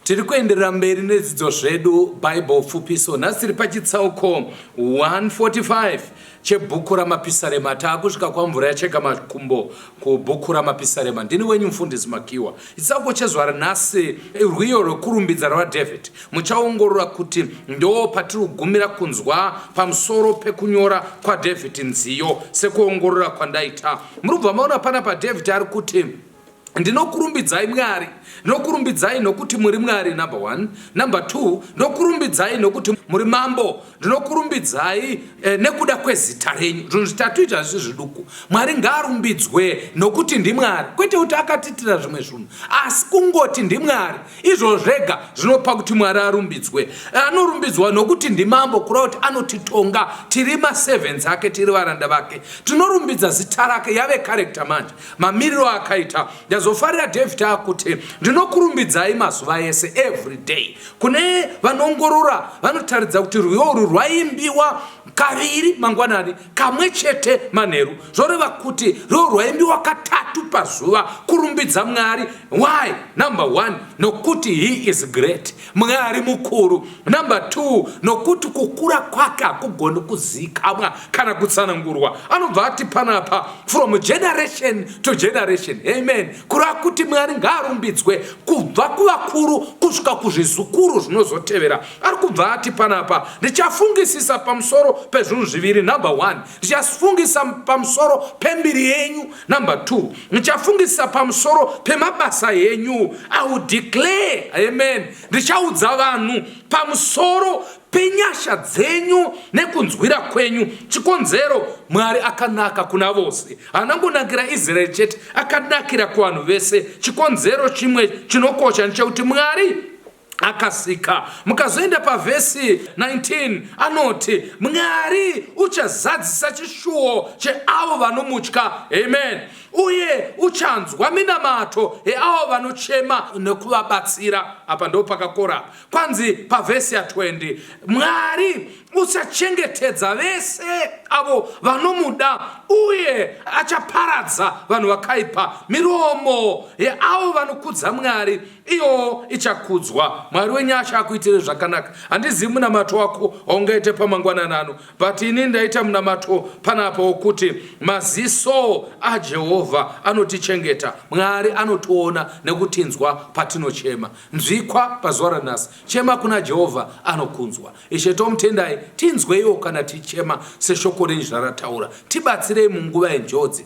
Tiri kuenderera mberi nedzidzo zvedu Bible pfupiso. Nhasi tiri pachitsauko 145 chebhuku raMapisarema. Taakusvika kwamvura yacheka makumbo kubhuku raMapisarema. Ndini wenyu mfundisi Makiwa. Chitsauko chezuva ranhasi rwiyo rwekurumbidza rwaDavid. Muchaongorora kuti ndo patiri kugumira kunzwa pamusoro pekunyora kwaDavid nziyo sekuongorora kwandaita. Muri kubva maona pana paDavid ari kuti Ndinokurumbidzai Mwari, ndinokurumbidzai nokuti muri Mwari number one. Number two, ndinokurumbidzai nokuti muri mambo, ndinokurumbidzai eh, nekuda kwezita renyu. Zvinhu zvitatu izvi hazvisi zviduku. Mwari ngaarumbidzwe nokuti ndimwari, kwete kuti akatiitira zvimwe zvinhu, asi kungoti ndimwari. Izvo zvega zvinopa kuti Mwari arumbidzwe. Anorumbidzwa nokuti ndimambo, kureva kuti anotitonga, tiri maservants ake, tiri varanda vake. Tinorumbidza zita rake, yave character manje. mamiriro akaita ndazofarira david akuti ndinokurumbidzai mazuva ese every day kune vanongorora vanotaridza kuti rwiyo urwu rwaimbiwa kaviri mangwanani kamwe chete manheru zvoreva kuti rwiyo rwaimbiwa katatu pazuva kurumbidza mwari why number one nokuti he is great Mwari mukuru. Number two, nokuti kukura kwake hakugoni kuzikamwa kana kutsanangurwa. Anobva ati panapa from generation to generation. Amen. Kura kuti Mwari ngaarumbidzwe kubva kuvakuru kusvika kuzvizukuru zvinozotevera. Ari kubva ati panapa ndichafungisisa pamusoro pezvinhu zviviri. Number one, Ndichafungisa pamusoro pembiri yenyu. Number two, ndichafungisa pamusoro pemabasa yenyu. I will declare, amen, ndichaudza vanhu pamusoro penyasha dzenyu nekunzwira kwenyu chikonzero mwari akanaka kuna vose anangonakira israeri chete akanakira kuvanhu vese chikonzero chimwe chinokosha ndechekuti mwari akasika. Mukazoenda pavhesi 19 anoti Mwari uchazadzisa chishuwo cheavo vanomutya. Amen. Uye uchanzwa minamato yeavo vanochema nekuvabatsira. Apa ndo pakakora apa. Kwanzi pavhesi ya20 Mwari uchachengetedza vese avo vanomuda uye achaparadza vanhu vakaipa. Miromo yeavo vanokudza Mwari Iyo ichakudzwa. Mwari wenyasha akuitire zvakanaka. Handizivi munamato wako waungaite pamangwanani ano, but ini ndaita munamato panapa wokuti maziso aJehovha anotichengeta. Mwari anotiona nekutinzwa patinochema. Nzwikwa pazuva ranhasi. Chema kuna Jehovha anokunzwa. Ishe tomutendai, tinzweiwo kana tichema seshoko renyu zvarataura. Tibatsirei munguva yenjodzi.